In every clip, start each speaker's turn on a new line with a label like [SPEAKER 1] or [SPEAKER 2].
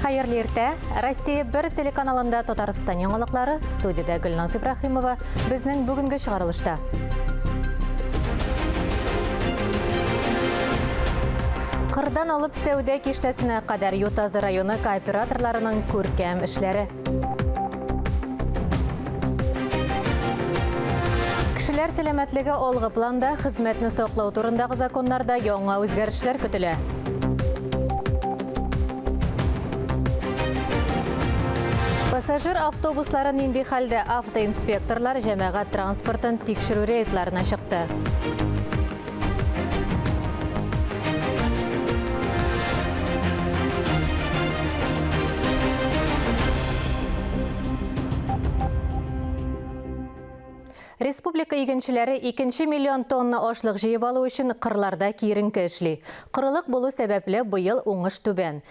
[SPEAKER 1] Хәерле иртә. Россия бер телеканалында Татарстан яңалыклары. Студиядә Гөлназ Ибрахимова. Безнең бүгенге чыгарылышта. Кырдан алып сәүдә киштәсенә кадәр Ютазы районы кооператорларының күркәм эшләре. Кешеләр сәламәтлеге алгы планда, хезмәтне саклау турындагы законнарда яңа үзгәрешләр көтелә. Пассажир автобуслары нинди хәлдә автоинспекторлар җәмәгать транспортын тикшерү рейдларына чыкты. Республика игенчеләре 2 миллион тонна ашлык җыеп алу өчен кырларда киеренке эшли. Корылык булу сәбәпле, быел уңыш түбән.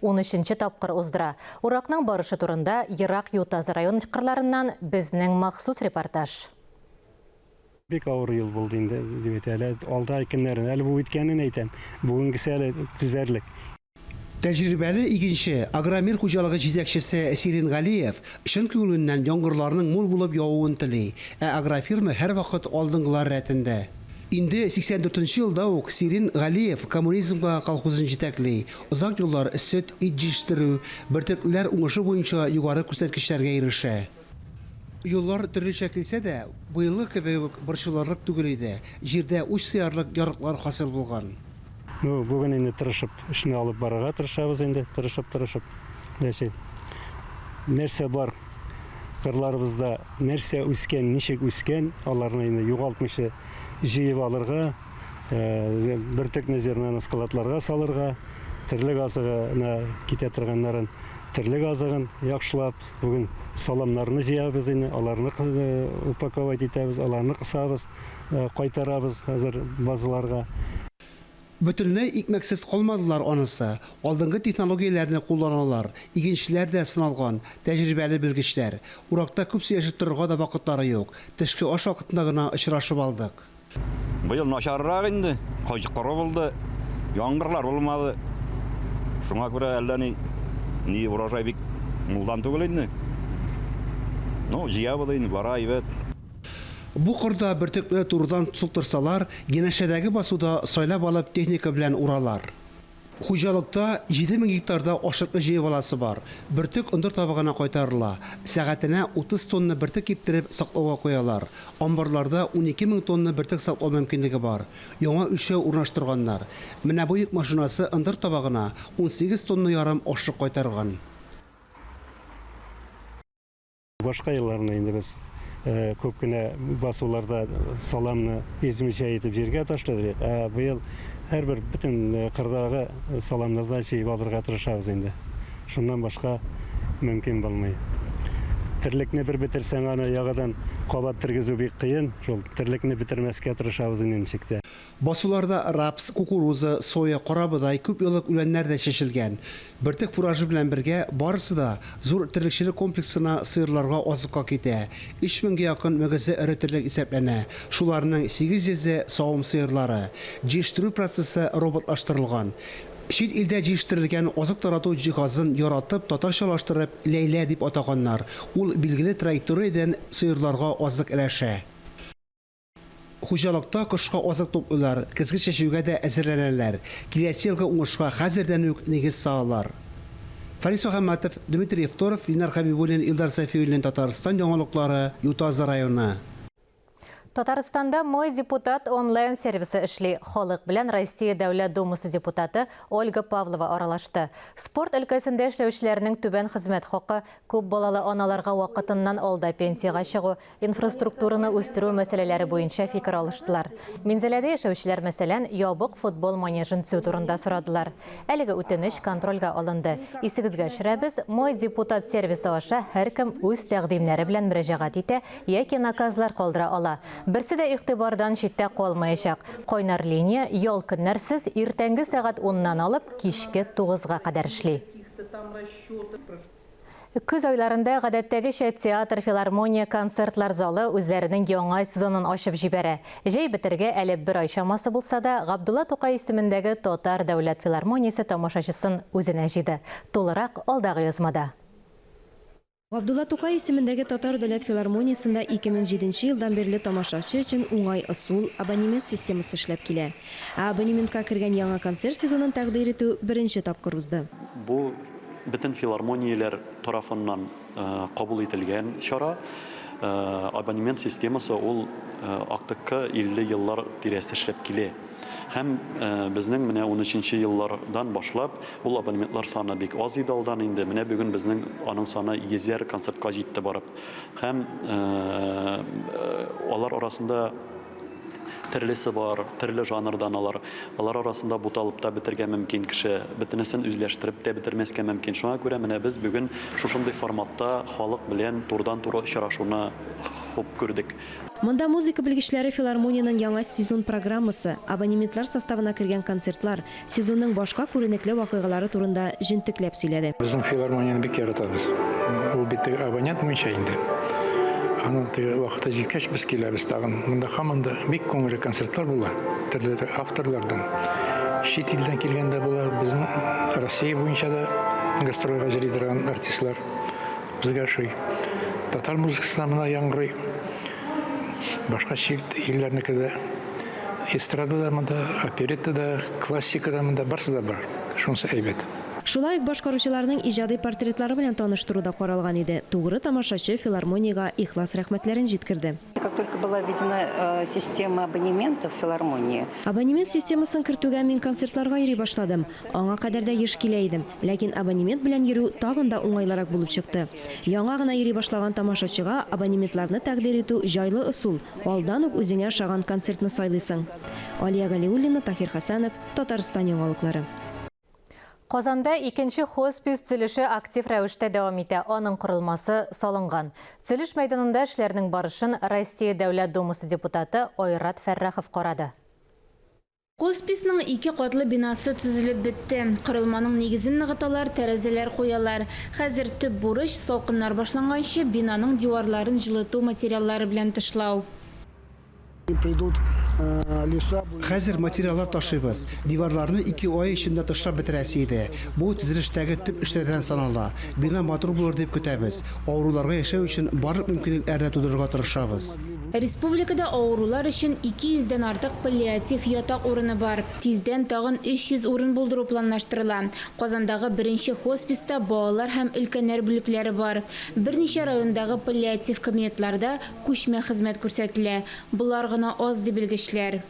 [SPEAKER 1] унөченче тапкыр уздыра. Уракның барышы турында Ерак Ютазы районы кырларыннан безнең махсус репортаж.
[SPEAKER 2] Бик авыр ел булды инде, дип әйтә. Әле алда көннәрен, әле бу үткәнен әйтәм. Бүгенгесе әле түзәрлек.
[SPEAKER 3] Тәҗрибәле игенче, Агромир хуҗалыгы җитәкчесе Сирин Галиев чын күңеленнән яңгырларның мул булып явуын тели, ә агрофирма һәрвакыт алдынгылар рәтендә. Инде 84 нче елда ук Сирин Галиев Коммунизмга колхозын җитәкли, озак еллар сөт, ит җитештерү, бөртеклеләр уңышы буенча югары күрсәткечләргә ирешә. Юллар төрлечә килсә дә, быелгы кебек үк борчылырлык түгел иде, җирдә уч сыярлык ярыклар хасил булган. Ну, бүген
[SPEAKER 2] инде тырышып эшне алып барырга тырышабыз инде, тырышып-тырышып, ләчен нәрсә бар кырларыбызда, нәрсә үскән, ничек үскән, аларны инде югалтмыйча җыеп алырга. Э, бөртекне зернаны складларга салырга терлек азыгына китә торганнарын терлек азыгын яхшылап бүген саламнарны җыябыз инде аларны э, упаковать итәбез аларны кысабыз э, кайтарабыз хәзер базаларга
[SPEAKER 3] Бөтенләй икмәксез калмадылар анысы. Алдынгы технологияләрне кулланалар. Игенчеләр дә сыналган, тәҗрибәле белгечләр. Уракта күп сөйләшеп торырга да вакытлары юк. Төшке аш вакытында гына очрашып алдык. Быел
[SPEAKER 4] начаррак инде, кыш коры булды, яңгырлар булмады. Шуңа күрә әллә ни, ни урожай бик мулдан түгел инде. Ну, җыябыз инде, бара әйбәт. Бу
[SPEAKER 3] кырда бөртекне турыдан суктырсалар, янәшәдәге басуда сайлап алып техника белән уралар. Хуҗалыкта 7 мең гектарда ашыткыч җыеп аласы бар. Бөртек ондыр табыгына кайтарыла. Сәгатенә 30 тонна бөртек киптереп, саклауга куялар. Амбарларда унике мең тонна бөртек саклау мөмкинлеге бар. Яңа үлчәү урнаштырганнар. Менә бу йөк машинасы ындыр табагына унсигез тонна ярым ашык кайтарган.
[SPEAKER 2] Башка елларны инде без күп кенә басуларда саламны измичә итеп җиргә ташлыйбыз, ә быел һәрбер бөтен кырдагы саламнардан җыеп алырга тырышабыз инде. Шуннан башка мөмкин булмый. Терлекне бер бетерсәң, аны яңадан кабат тергезү бик кыен. Шул терлекне бетермәскә тырышабыз инде ничек тә. Басуларда
[SPEAKER 3] рапс, кукуруза, соя, карабодай, күпьеллык үләннәр дә чәчелгән. Бөртек фуражы белән бергә барысы да зур терлекчелек комплексына сыерларга азыкка китә. Өч меңгә якын мөгезе эре терлек исәпләнә, шуларның сигез йөзе, савым сыерлары. Җиештерү процессы роботлаштырылган. Чит илдә җиештерелгән азык тарату җиһазын яратып, татарчалаштырып, Ләйлә дип атаганнар. Ул билгеле траекториядән сыерларга азык өләшә. Хуҗалыкта кышка азык туплыйлар, көзге чәчүгә дә әзерләнәләр, киләсе елгы уңышка хәзердән үк нигез салалар. Фарис Мөхәммәтов, Дмитрий Евторов, Ленар Хәбибуллин, Илдар Сафиуллин Татарстан яңалыклары, Ютазы районы. Татарстанда
[SPEAKER 1] Мой депутат онлайн сервисы эшли. Халык белән Россия Дәүләт Думасы депутаты Ольга Павлова аралашты. Спорт өлкәсендә эшләүчеләрнең түбән хезмәт хакы, күп балалы аналарга вакытыннан алда пенсиягә чыгу, инфраструктураны үстерү мәсьәләләре буенча фикер алыштылар. Минзәләдә яшәүчеләр, мәсәлән, ябык футбол манежын төзү турында сорадылар. Әлеге үтенеч контрольгә алынды. Исегезгә төшерәбез, Мой депутат сервисы аша һәркем үз тәкъдимнәре белән мөрәҗәгать итә яки наказлар калдыра ала. Берсе дә игътибардан читтә калмаячак. Кайнар линия ял көннәрсез иртәнге сәгать уннан алып кичке тугызга кадәр эшли. Көз айларында, гадәттәгечә, театр, филармония, концертлар залы үзләренең яңа сезонын ачып җибәрә. Җәй бетәргә әле бер ай чамасы булса да, Габдулла Тукай исемендәге Татар дәүләт филармониясе тамашачысын үзенә җыйды. Тулырак алдагы язмада.
[SPEAKER 5] Габдулла Тукай исемендәге Татар дәүләт филармониясендә 2007 нче елдан бирле тамашачы өчен уңай ысул, абонемент системасы эшләп килә. Ә абонементка кергән яңа концерт сезонын тәкъдир итү беренче тапкыр узды. Бу
[SPEAKER 6] Бөтен филармонияләр тарафыннан кабул ителгән чара. Абонемент системасы ул актыкка 50 еллар тирәсе эшләп килә. Һәм безнең менә 13 нче еллардан башлап ул абонементлар саны бик аз иде алдан инде. Менә бүген безнең аның саны йөзәр концертка җитте барып. Һәм алар арасында Төрлесе бар, төрле жанрдан алар. Алар арасында буталып та бетергә мөмкин кеше, бөтенесен үзләштереп тә бетермәскә мөмкин. Шуңа күрә менә без бүген шушындый форматта халык белән турыдан-туры очрашуны хуп күрдек. Монда музыка
[SPEAKER 5] белгечләре филармониянең яңа сезон программасы, абонементлар составына кергән концертлар, сезонның башка күренекле вакыйгалары турында җентекләп сөйләде. Безнең филармонияне бик
[SPEAKER 7] яратабыз. Ул бит теге абонент буенча инде. Аның теге вакыты җиткәч, без киләбез тагын. Монда һаман да бик күңелле концертлар була, төрле авторлардан. Чит илдән килгән дә була, безнең Россия буенча да гастрольгә җыри торган артистлар безгә ошый. Татар музыкасына мына яңгырый. Башка чит илләрнеке дә Эстрада да монда, оперетта да, классика да монда, барсы да бар. Шунысы әйбәт. Шулай ук
[SPEAKER 5] башкаручыларның иҗади портретлары белән таныштыру да каралган иде. Тугры тамашачы филармониягә ихлас рәхмәтләрен җиткерде. Как только была
[SPEAKER 8] введена э, система абонементов в филармонии, Абонемент системасын
[SPEAKER 5] кертүгә мин концертларга йөри башладым. Аңа кадәр дә еш килә идем, ләкин абонемент белән йөрү тагын да уңайлырак булып чыкты. Яңа гына йөри башлаган тамашачыга абонементларны тәкъдир итү, җайлы ысул, алдан ук үзеңә ошаган концертны сайлыйсың. Алия Галиуллина, Таһир Хәсәнов, Татарстан яңалыклары.
[SPEAKER 1] Казанда икенче хоспис төзелеше актив рәвештә дәвам итә, аның корылмасы салынган. Төзелеш мәйданында эшләрнең барышын Россия Дәүләт Думасы депутаты Айрат Фәррахов карады.
[SPEAKER 9] Хосписның ике катлы бинасы төзелеп бетте. Корылманың нигезен ныгыталар, тәрәзәләр куялар. Хәзер төп бурыч, салкыннар башланганчы, бинаның диварларын җылыту материаллары белән тышлау.
[SPEAKER 3] Хәзер материаллар ташыйбыз. Диварларны ике ай эчендә тышлап бетерәсе иде. Бу, төзелештәге төп эшләрдән санала. Бина матур булыр дип көтәбез. Авыруларга яшәү өчен барлык мөмкинлекләрне тудырырга тырышабыз. Республикада
[SPEAKER 9] авырулар өчен 200 дән артык паллиатив ятак урыны бар. Тиздән тагын 300 урын булдыру планлаштырыла. Казандагы беренче хосписта балалар һәм өлкәннәр бүлекләре бар. Берничә райондагы паллиатив кабинетларда күчмә хезмәт күрсәтелә. Болар гына аз, ди белгечләр.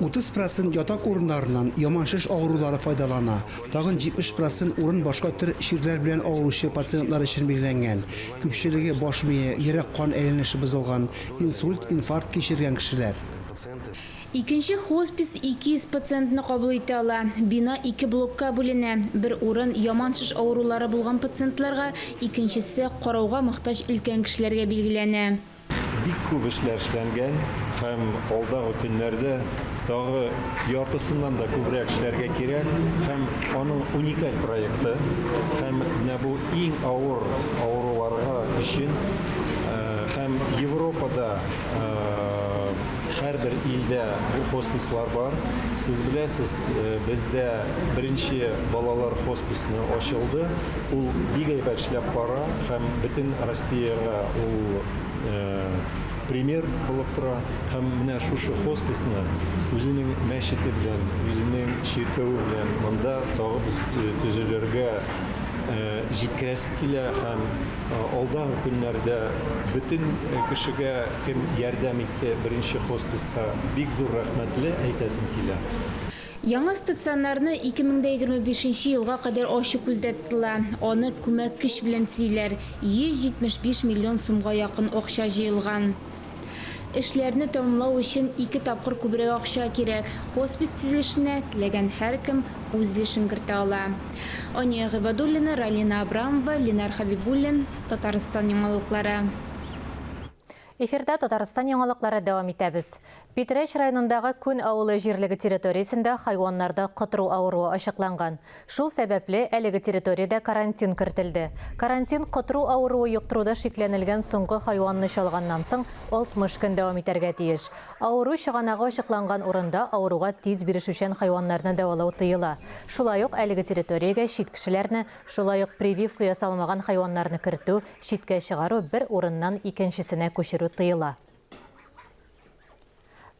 [SPEAKER 3] Утыз процент ятак урыннарыннан яман шеш авырулары файдалана, тагын 70 процент урын башка төр чирләр белән авыручы пациентлар өчен билгеләнгән, күпчелеге баш мие, йөрәк-кан әйләнеше бозылган, инсульт, инфаркт кичергән кешеләр.
[SPEAKER 9] Икенче хоспис 200 пациентны кабул итә ала. Бина ике блокка бүленә, бер урын яман шеш авырулары булган пациентларга, икенчесе, карауга мохтаҗ өлкән кешеләргә билгеләнә. Бик күп
[SPEAKER 10] эшләр эшләнгән һәм алдагы көннәрдә тагы яртысыннан да күбрәк эшләргә кирәк һәм аның уникаль проекты һәм менә бу иң авыр авыруларга өчен һәм Европада һәрбер илдә бу хоспислар бар. Сез беләсез, бездә беренче балалар хосписны ачылды, ул бик әйбәт эшләп бара һәм бөтен Сиягә ул пример булып тора һәм менә шушы хосписны үзенең мәчете белән, үзенең чиркәве белән монда тагы без төзелергә җиткерәсе килә һәм алдагы көннәрдә бөтен кешегә кем ярдәм итте беренче хосписка бик зур рәхмәтле әйтәсем килә. Яңа
[SPEAKER 9] стационарны 2025 нче елга кадәр ачу күздә тотыла. Аны күмәк көч белән төзиләр, 175 миллион сумга якын акча җыелган. Эшләрне тәмамлау өчен ике тапкыр күбрәк акча кирәк. Хоспис төзелешенә теләгән һәркем үз өлешен кертә ала. Ания Гыйбадуллина, Ралина Абрамова, Ленар Хәбибуллин, Татарстан яңалыклары.
[SPEAKER 1] Эфирда Татарстан яңалыклары дәвам итәбез. Питрәч районындагы Күн авылы җирлеге территориясендә хайваннарда котыру авыруы ачыкланган. Шул сәбәпле, әлеге территориядә карантин кертелде. Карантин котыру авыруы йоктыруда шикләнелгән соңгы хайванны чалганнан соң 60 көн дәвам итәргә тиеш. Авыру чыганагы ачыкланган урында авыруга тиз бирешүчән хайваннарны дәвалау тыела. Шулай ук әлеге территориягә чит кешеләрне, шулай ук прививка ясалмаган хайваннарны кертү Читкә чыгару, бер урыннан икенчесенә күчерү тыела.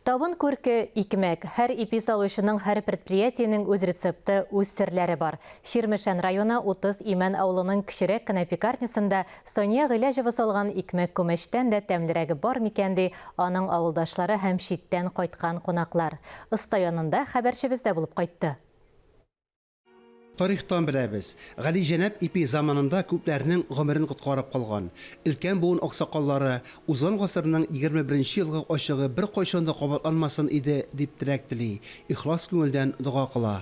[SPEAKER 1] Табын күрке, икмәк. Һәр ипи салучының, һәр предприятиенең үз рецепты, үз серләре бар. Чирмешән районы Утыз Имән авылының кечерәк кенә пекарнясында Сания Гыйләҗева салган икмәк күмәчтән дә тәмлерәге бар микән, ди аның авылдашлары һәм читтән кайткан кунаклар. Оста янында хәбәрчебез дә булып кайтты.
[SPEAKER 3] Тарихтан беләбез, Галиҗәнап ипи заманында күпләрнең гомерен коткарып калган. Өлкән буын аксакаллары, Узган гасырның егерме беренче елгы ачыгы беркайчан да кабатланмасын иде, дип теләк тели, ихлас күңелдән дога кыла.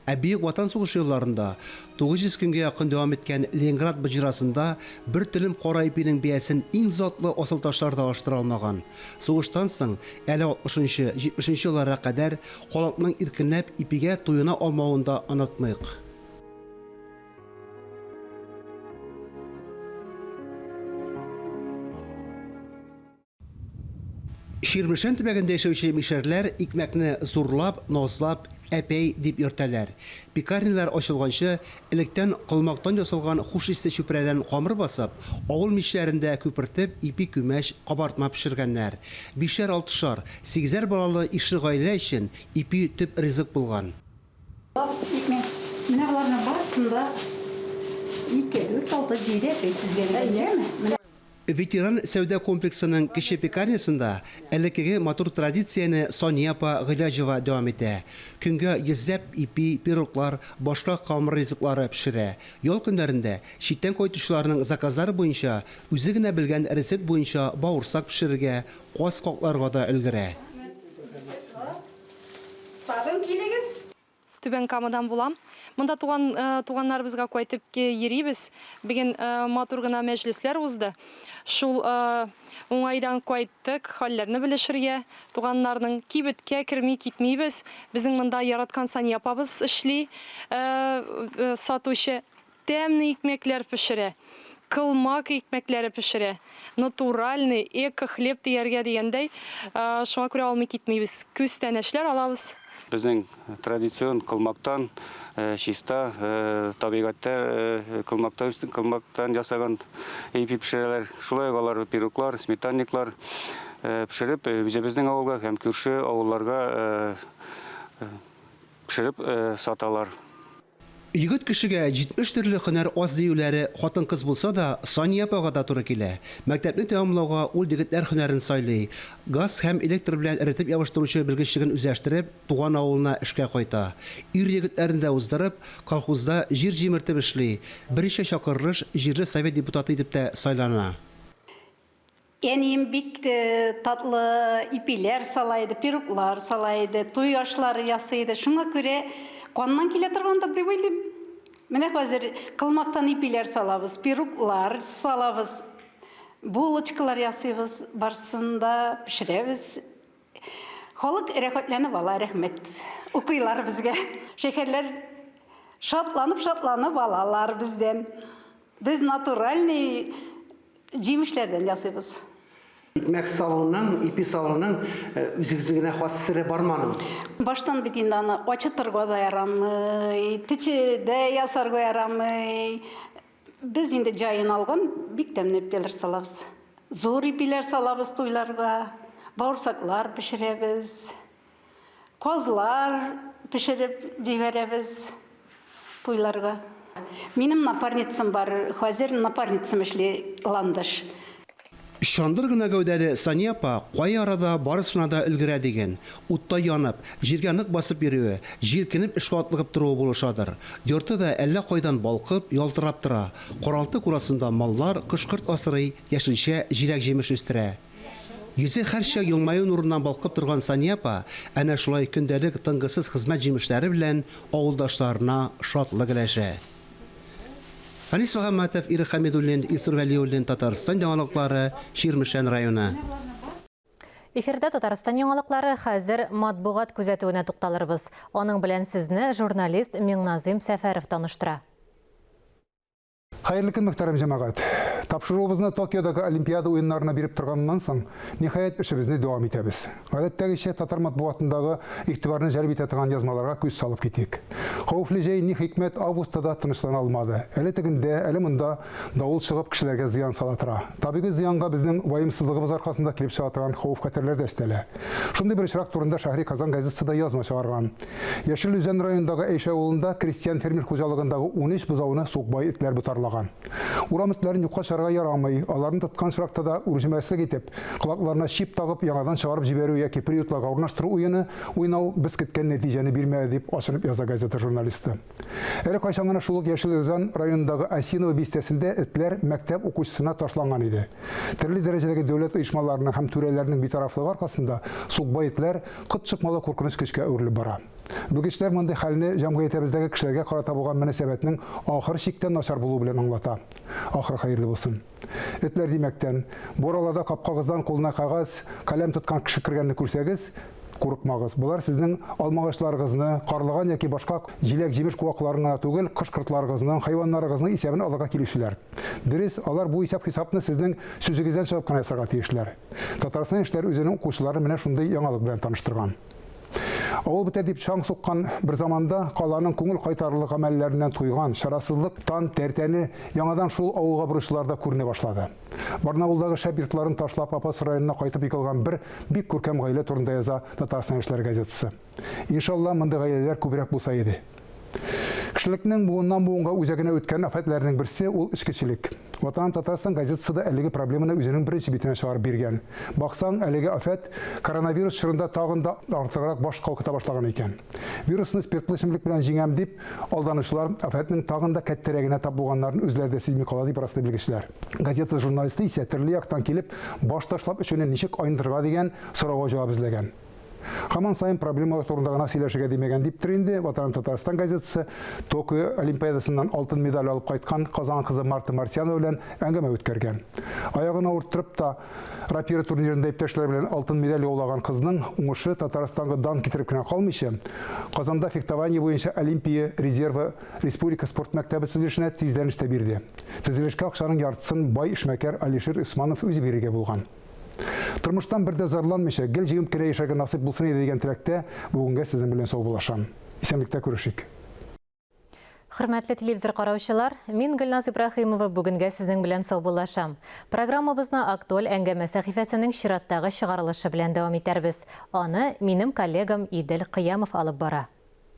[SPEAKER 3] Ә Бөек Ватан сугышы елларында, 900 көнгә якын дәвам иткән Ленинград боҗрасында бер телем кара ипинең бәясен иң затлы асылташлар да алыштыра алмаган. Сугыштан соң, әле алтмышынчы, җитмешенче елларга кадәр Халыкның иркенләп ипигә туена алмавын да онытмыйк. Чирмешән төбәгендә яшәүче мишәрләр икмәкне зурлап, назлап, әпәй дип йөртәләр. Пекарнялар ачылганчы, Электән колмактан ясалган хуш исле чүпрәдән камыр басып, авыл мичләрендә күпертеп, ипи күмәч, кабартма пешергәннәр. Бишәр-алтышар, сигезәр балалы ишле гаилә өчен ипи төп ризык булган. Тап итмим. Менә
[SPEAKER 8] боларның барысын да ике, дүрт, алты, җиде әпәй тезгән, әйеме? Ветеран
[SPEAKER 3] сәүдә комплексының кече пекарнясында элеккеге матур традицияне Сания апа Гыйләҗева дәвам итә. Көнгә йөзләп ипи, пироглар, башка камыр ризыклары пешерә. Ял көннәрендә читтән кайтучыларның заказлары буенча үзе генә белгән рецепт буенча бавырсак пешерергә, каз какларга да өлгерә. Рәхмәт, бик рәхмәт сиңа. Тагын
[SPEAKER 11] килегез. Түбән Камадан булам. Монда туган туганнарыбызга кайтып йөрибез. Бүген матур гына мәҗлесләр узды. Шул уңайдан кайттык, хәлләрне белешергә, туганнарның. Кибеткә керми китмибез. Безнең монда яраткан Сания апабыз эшли, сатучы. Тәмне икмәкләр пешерә. Кылмак икмәкләре пешерә. Натуральный, эко-хлеб дияргә дигәндәй. Шуңа күрә алмый китмибез. Күстәнәчләр алабыз. Безнең
[SPEAKER 12] традицион кылмактан, чиста табигатьтә кылмакта үсте, кылмактан ясаган ипи пешерәләр. Шулай ук алар пироглар, сметанниклар пешереп, үзебезнең авылга һәм күрше авылларга пешереп саталар.
[SPEAKER 3] Егет кешегә җитмеш төрле һөнәр аз диюләре хатын-кыз булса да, Сания апага да туры килә. Мәктәпне тәмамлауга ул дегетләр һөнәрен сайлый, газ һәм электр белән эретеп ябыштыручы белгечлеген үзләштереп, туган авылына эшкә кайта. Ир-егетләрне дә уздырып, колхозда җир җимертеп эшли, берничә чакырылыш җирле совет депутаты итеп тә сайлана.
[SPEAKER 8] Әнием бик татлы ипиләр сала иде, пироглар сала иде, туй ашлары ясый иде. Шуңа күрә каннан килә торгандыр дип уйлыйм. Менә хәзер кылмактан ипиләр салабыз, пироглар салабыз, булочкалар ясыйбыз, барсын да пешерәбез. Халык рәхәтләнеп ала, рәхмәт. Укыйлар безгә. Шәһәрләр шатланып-шатланып алалар бездән. Без натуральный җимешләрдән ясыйбыз. Икмәк
[SPEAKER 3] салуның, ипи салуның үзегез генә хас сере бармы аның? Баштан бит
[SPEAKER 8] инде аны ачытырга да ярамый, течедә ясарга ярамый. Без инде җаен алган бик тәмле ипиләр салабыз. Зур ипиләр салабыз туйларга, бавырсаклар пешерәбез. Казлар пешереп җибәрәбез туйларга. Минем напарницам бар, хәзер напарницам эшли Ландыш.
[SPEAKER 3] Чандыр гына гәүдәле Сания апа кай арада барысына да өлгерә диген. Утта янып, җиргә нык басып йөрүе, җилкенеп эшкә атлыгып торуы булышадыр. Йорты да әллә кайдан балкып, ялтырап тора. Каралты-курасында маллар, кош-корт асрый, яшелчә, җиләк-җимеш үстерә. Йөзе һәрчак елмаю нурыннан балкып торган Сания апа әнә шулай көндәлек тынгысыз хезмәт җимешләре белән авылдашларына шатлык өләшә. Фәнис Мөхәммәтов, Ирек Хәмидуллин, Илсур Вәлиуллин, Татарстан яңалыклары, Чирмешән районы.
[SPEAKER 1] Эфирда Татарстан яңалыклары, хәзер матбугат күзәтүенә тукталырбыз. Аның белән сезне журналист Миңназыйм Сәфәров таныштыра.
[SPEAKER 13] Хәерле көн, мөхтәрәм җәмәгать! Тапшыруыбызны Токиодагы Олимпиада уеннарына биреп торганнан соң, ниһаять, эшебезне дәвам итәбез. Гадәттәгечә, татар матбугатындагы игътибарны җәлеп итә торган язмаларга күз салып китик. Хәвефле җәй, ни хикмәт, августта да тынычлана алмады. Әле тегендә, әле монда давыл чыгып, кешеләргә зыян сала тора. Табигый зыянга безнең ваемсызлыгыбыз аркасында килеп чыга торган хәвеф-хәтәрләр дә өстәлә. Шундый бер очрак турында Шәһри Казан газетасы да язма чыгарган. Яшел Үзән районындагы Әйшә авылында крестьян-фермер хуҗалыгындагы 13 бозауны сукбай этләр ботарлаган. Урам этләрен юкка чыгарга ярамый, аларны тоткан очракта да үрҗемәслек итеп, колакларына чип тагып, яңадан чыгарып җибәрү яки приютларга урнаштыру уены уйнау без көткән нәтиҗәне бирмәде, дип ачынып яза газета журналисты. Әле кайчан гына шул ук Яшел Өзан районындагы Осиново бистәсендә этләр мәктәп укучысына ташланган иде. Төрле дәрәҗәдәге дәүләт оешмаларының һәм түрәләрнең битарафлыгы аркасында сукбай этләр кот чыкмалы куркыныч көчкә әверелеп бара. Белгечләр мондый хәлне җәмгыятебездәге кешеләргә карата булган мөнәсәбәтнең ахыр чиктән начар булуы белән аңлата. Ахыры хәерле булсын. Этләр димәктән, бу араларда капкагыздан кулына кәгазь, каләм тоткан кеше кергәнне күрсәгез, курыкмагыз. Болар сезнең алмагачларыгызны, карлыган яки башка җиләк-җимеш куакларын гына түгел, кош-кортларыгызның, хайваннарыгызның исәбен алырга килүчеләр. Дөрес, алар бу исәп-хисапны сезнең сүзегездән чыгып кына ясарга тиешләр. Татарстан Яшьләр үзенең укучыларын менә шундый яңалык белән таныштырган. Авыл бетә дип чаң суккан бер заманда каланың күңел кайтарлык гамәлләреннән туйган шарасызлык тан тәртәне яңадан шул авылга боручыларда күренә башлады. Барнаулдагы шәп йортларын ташлап Апас районына кайтып егылган бер бик күркәм гаилә турында яза Татарстан яшьләре газетасы. Иншалла, мондый гаиләләр күбрәк булса иде. Кешелекнең буыннан-буынга үзәгенә үткән афәтләрнең берсе, ул эчкечелек. Ватан Татарстан газетасы да әлеге проблеманы үзенең беренче битенә чыгарып биргән. Баксаң, әлеге афәт коронавирус чорында тагын да артыграк баш калкыта башлаган икән. Вирусны спиртлы эчемлек белән җиңәм дип алданучылар афәтнең тагын да кәттәрәгенә тап булганнарын үзләре дә сизми кала, дип раслый белгечләр. Газета журналисты исә төрле яктан килеп баш ташлап эчүне ничек айныдырга дигән сорауга җавап эзләгән. Хаман сайын проблемалар турында гына сөйләшергә димәгән диптер инде Ватан Татарстан газетасы Токио олимпиадасыннан алтын медаль алып кайткан Казан кызы Марта Мартьянова белән әңгәмә үткәргән. Аягын авырттырып та рапира турнирында иптәшләре белән алтын медаль яулаган кызның уңышы Татарстанга дан китереп кенә калмыйча, Казанда фехтование буенча Олимпия резервы республика спорт мәктәбе төзелешенә тиздәнештә бирде. Төзелешкә акчаның яртысын бай эшмәкәр Алишер Усманов үзе бирергә булган. Тормыштан бер дә зарланмыйча, гел җиңеп кенә яшәргә насыйп булсын иде дигән теләктә бүгенгә сезнең белән саубуллашам. Исәнлектә күрешик.
[SPEAKER 1] Хөрмәтле телевизор караучылар, мин Гөлназ Ибраһимова бүгенгә сезнең белән саубуллашам. Программабызны Актуаль әңгәмә сәхифәсенең чираттагы чыгарылышы белән дәвам итәрбез. Аны минем коллегам Идел Кыямов алып бара.